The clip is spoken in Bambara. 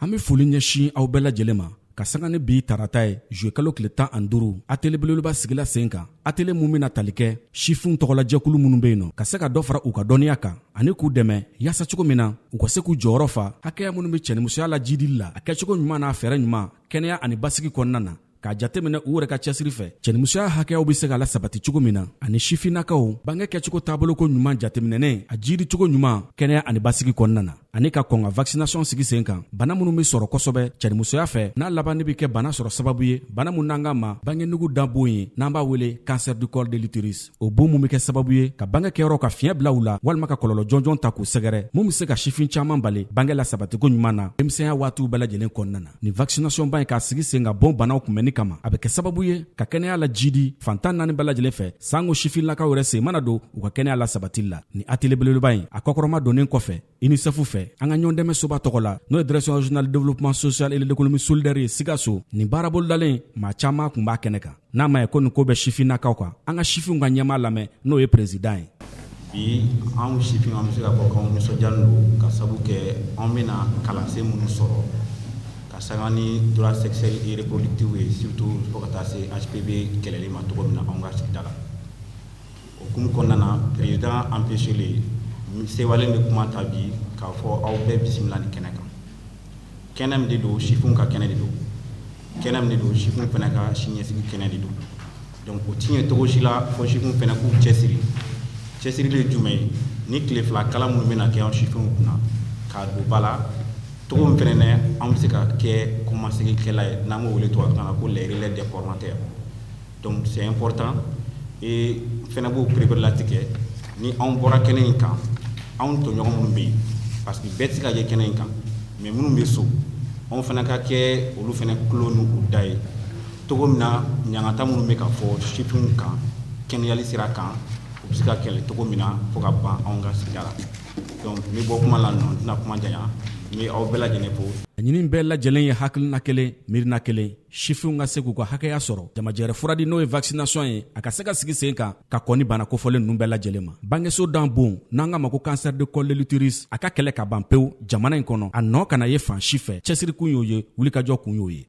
An bɛ foli ɲɛsin aw bɛɛ lajɛlen ma ka sanga ni bi tarata ye juillet kalo tile tan ani duuru atelier belebeleba sigila sen kan atelier min bɛna tali kɛ sifinw tɔgɔlajɛkulu minnu bɛ yen nɔ ka se ka dɔ fara u ka dɔnniya kan ani k'u dɛmɛ yaasa cogo min na u ka se k'u jɔyɔrɔ fa hakɛya minnu bɛ cɛnimusoya lajidili la a kɛcogo ɲuman n'a fɛɛrɛ ɲuman kɛnɛya ani basigi kɔnɔna na k'a jateminɛ u yɛrɛ ka cɛsiri fɛ cɛnimusoya hakɛyaw be se ka lasabati cogo min na ani sifinnakaw bange kɛcogo taaboloko ɲuman jateminɛnen a jiidi cogo ɲuman kɛnɛya ani basigi kɔnɔna na ani ka kɔn ka vaccination sigi sen kan bana minw be sɔrɔ kosɛbɛ cɛnimusoya fɛ n'a laban ne be kɛ bana sɔrɔ sababu ye bana min n'an k'a ma bangenugu da bon ye n'an b'a wele cancer du col de l'utérus o bon min bɛ kɛ sababu ye ka bange kɛyɔrɔ ka fiɲɛ bila u la walima ka kɔlɔlɔ jɔnjɔn ta k'u sɛgɛrɛ mun bɛ se ka sifin caman bali bange lasabatiko ɲuman na denmisɛnya waatiw bɛɛ lajɛlen kɔnɔna na nin vaccination ba in k'a sigi sen kan bon banaw kunbɛnni kama a bɛ kɛ sababu ye ka kɛnɛya lajidi fan tan naani bɛɛ lajɛlen fɛ sanko sifinlakaw yɛrɛ sen mana don u ka kɛnɛya lasabatili la nin atelier belebeleba in a kɔkɔrɔmadonnen kɔfɛ UNICEF fɛ an ka ɲɔgɔndɛmɛ soba tɔgɔ la n'o ye direction régionale de développement social et de l'économie solidaire ye Sikaso nin baarabolodalen maa caman tun b'a kɛnɛ kan n'a ma ye ko nin ko bɛ sifinnakaw kan an ka sifinw ka ɲɛmaa lamɛn n'o ye président ye bi anw sifin an bɛ se ka fɔ k'anw nisɔndiyalen don ka sabu kɛ anw bɛna kalansen minnu sɔrɔ ka sanga ni droit sexuel et reproductif ye surtout fo ka taa se HPV kɛlɛli ma cogo min na anw ka sigida la O hukumu kɔnɔna na président empêchélen n sewalen bɛ kuma ta bi k'a fɔ aw bɛɛ bisimila nin kɛnɛ kan kɛnɛ min de don sifinw ka kɛnɛ de don kɛnɛ min de don sifinw fana ka siniɲɛsigi kɛnɛ de don donc o tɛ ɲɛ cogo si la fo sifinw fana k'u cɛsiri cɛsirili ye jumɛn ye nin tile fila kalan minnu bɛna kɛ an sifinw kunna k'a don ba la cogo min fana na an bɛ se ka kɛ kɔmasigikɛla ye n'an b'o wele tubabukan na ko les relais des formateurs Donc c'est important et n fana b'o pereperelatigɛ ni anw bɔra kɛnɛ in kan anw tɔɲɔgɔn minnu bɛ yen parce que bɛɛ tɛ se ka jɛ kɛnɛ in kan mais minnu bɛ so anw fana ka kɛ olu fana tulo n'u da ye cogo min na ɲangata minnu bɛ ka fɔ sifinw kan kɛnɛyali sira kan u bɛ se ka kɛlɛ cogo min na fo ka ban anw ka sigida la donc n bɛ bɔ kuma la nɔ n tɛna kuma janya n bɛ aw bɛɛ lajɛlen fo. Laɲini bɛɛ lajɛlen ye hakilina kelen, miirina kelen. sifinw ka se k'u ka hakɛya sɔrɔ jamajɛrɛ furadi n'o ye vaccination ye a ka se ka sigi sen kan ka kɔni bana kofɔlen ninnu bɛɛ lajɛlen ma bangeso da bon n'an k'a ma ko cancer de col de l'utérus a ka kɛlɛ ka ban pewu jamana in kɔnɔ a nɔ kana ye fan si fɛ cɛsirikun y'o ye wulikajɔ kun y'o ye